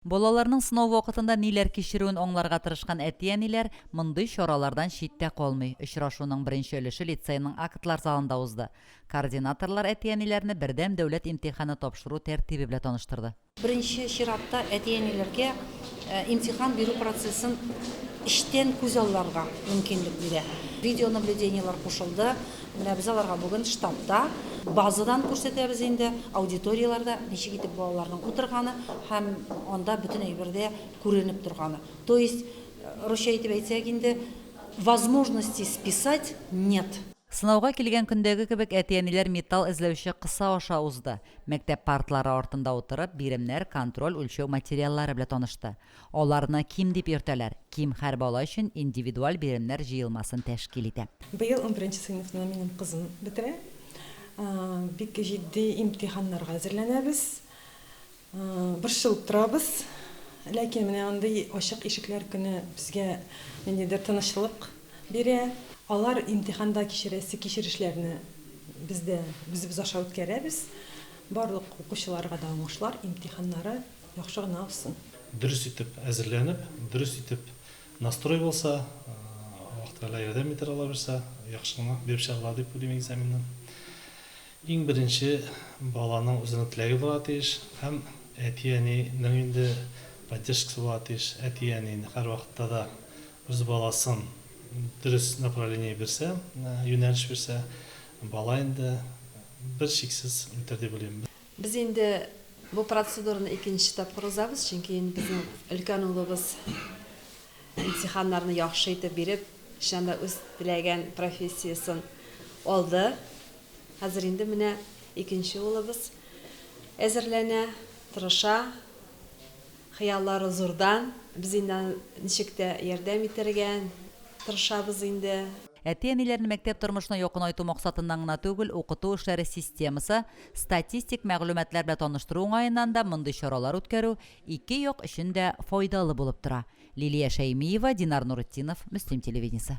Балаларның сынау вакытында ниләр кичерүен аңларга тырышкан әти-әниләр мондый чаралардан читтә калмый. Очрашуның беренче өлеше лицейның актлар залында узды. Координаторлар әти-әниләрне Бердәм дәүләт имтиханы тапшыру тәртибе белә таныштырды. Беренче чиратта әти-әниләргә имтихан бирү процессын эчтән күзалларга мөмкинлек бирә. Видеонаблюдениелар кушылды, Менә без аларга бүген штабта базадан күрсәтәбез инде, аудиторияләрдә ничек итеп балаларның утырганы һәм анда бөтен әйбер дә күренеп торганы. То есть, русча итеп әйтсәк инде, возможности списать нет. Сынауга килгән көндәге кебек әти-әниләр металл эзләүче кыса аша узды. Мәктәп партлары артында утырып, биремнәр, контроль, үлчәү материаллары белән танышты. Аларны ким дип йөртәләр. Ким һәр бала өчен индивидуаль биремнәр җыелмасын тәшкил итә. Быел унберенче сыйныфны минем кызым бетерә. Бик җитди имтиханнарга әзерләнәбез. Борчылып торабыз. Ләкин менә мондый ачык ишекләр көне безгә ниндидер тынычлык бирә. Алар имтиханда кичерәсе кичерешләрне без дә үзебез аша үткәрәбез. Барлык укучыларга да уңышлар имтиханнары. Яхшы гына узсын. Дөрес итеп әзерләнеп, дөрес итеп настрой булса, Аллаһ Тәгалә ярдәм итәр аллабирса, яхшы гына биреп чыгарлар дип уйлыйм экзаменны. Иң беренче баланың үзенең теләге булырга тиеш һәм әти-әнинең инде поддержкасы булырга тиеш. Әти-әни һәрвакытта да үз баласын дөрес направление бирсә, юнәлеш бирсә, бала инде берчиксез үтәр дип уйлыйм. Без инде бу процедураны икенче тапкыр узабыз, чөнки инде безнең өлкән улыбыз имтиханнарны яхшы итеп биреп, чыннан да үз теләгән профессиясен алды. Хәзер инде менә икенче улыбыз әзерләнә, тырыша, хыяллары зурдан. Без инде аны ничек тә ярдәм итәргә тырышабыз инде. Әти-әниләрне мәктәп тормышына якынайту максатыннан гына түгел, укыту эшләре системасы, Статистик мәгълүматлар белән таныштыру уңаеннан да мондый чаралар үткәрү ике як өчен дә файдалы булып тора. Лилия Шәймиева, Динар Нуретдинов, Мөслим телевидениесе.